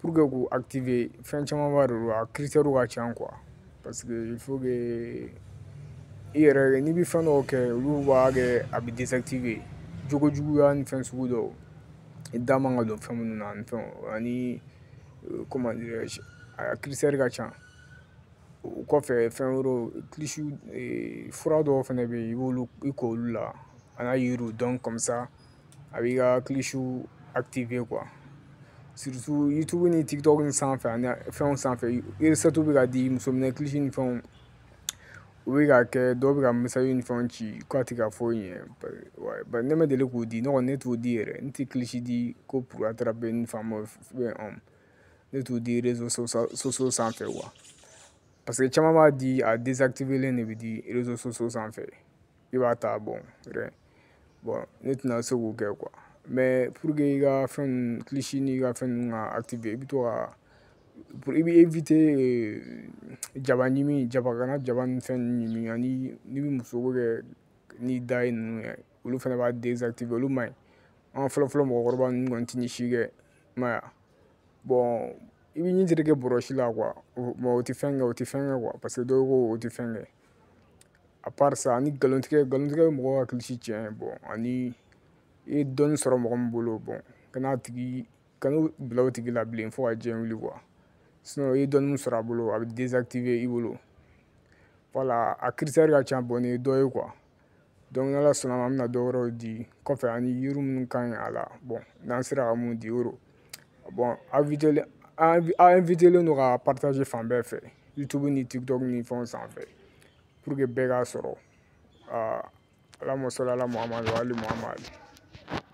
pour que k'u activer fɛn camanba de don a critères ka ca quoi parce que il faut que i yɛrɛ n'i bɛ fɛn dɔw kɛ olu b'a kɛ a bɛ désactiver jogo juguya ni fɛn sugu dɔw i da man ka don fɛn minnu na ani fɛnw ani euh, comment dirais-je a critères ka ca o kɔfɛ fɛn wɛrɛw kilisi fura dɔw fana bɛ yen i b'olu i k'olu la a n'a yiriw donc comme ça a b'i ka kilisiw activer quoi surtout youtube ni tiktok ni sanfɛ ani fɛnw sanfɛ recette bɛ ka di muso minɛ kilisi ni fɛnw u bɛ ka kɛ dɔw bɛ ka message ni fɛnw ci k'a tɛ ka foyi ɲɛ bari bari ne ma deli k'o di ne kɔni ne t'o di yɛrɛ n tɛ kilisi di ko pour attraper une femme fɛn ɔn ne t'o di réseaux sociaux sanfɛ quoi parce que caman b'a di a désactiver len de bɛ di réseaux sociaux sanfɛ. i b'a ta bon bon ne tɛna se k'o kɛ quoi mais pour que i ka fɛn kilisi n'i ka fɛn ninnu ka activer i bɛ to ka i bɛ éviter jaba ɲimi jaba kana jaba ni fɛn ninnu ɲimi ani n'i bɛ muso ko kɛ n'i da ye ninnu ye olu fana b'a désactiver olu man ɲi an fɔlɔfɔlɔ mɔgɔkɔrɔba ninnu kɔni tɛ nin si kɛ i m'a ye bon i bɛ ɲin tereke bɔrɔsi la quoi o tɛ fɛn kɛ o tɛ fɛn kɛ quoi parce que dɔw ko o tɛ fɛn kɛ à part ça ani nkalontigɛ nkalontigɛ bɛ mɔgɔ ka kilisi tiɲɛ bon ani i ye dɔnni sɔrɔ mɔgɔ min bolo bon kana a tigi kana bila o tigi la bilen fo ka diɲɛ wuli quoi sinon i ye dɔnni min sɔrɔ a bolo a bɛ désactiver i bolo voilà a critères ka ca bon nin ye dɔ ye quoi donc n'ala sɔnn'a ma an bɛna dɔ wɛrɛw di kɔfɛ ani yiri minnu ka ɲi a la bon n'an sera ka min di o rɔ bon invitelen a invitelen don k'a partager fan bɛɛ fɛ youtube ni tiktok ni fɛnw sanfɛ pour que bɛɛ k'a sɔrɔ alahuma sɔli ala muhamadu wa ali muhamadu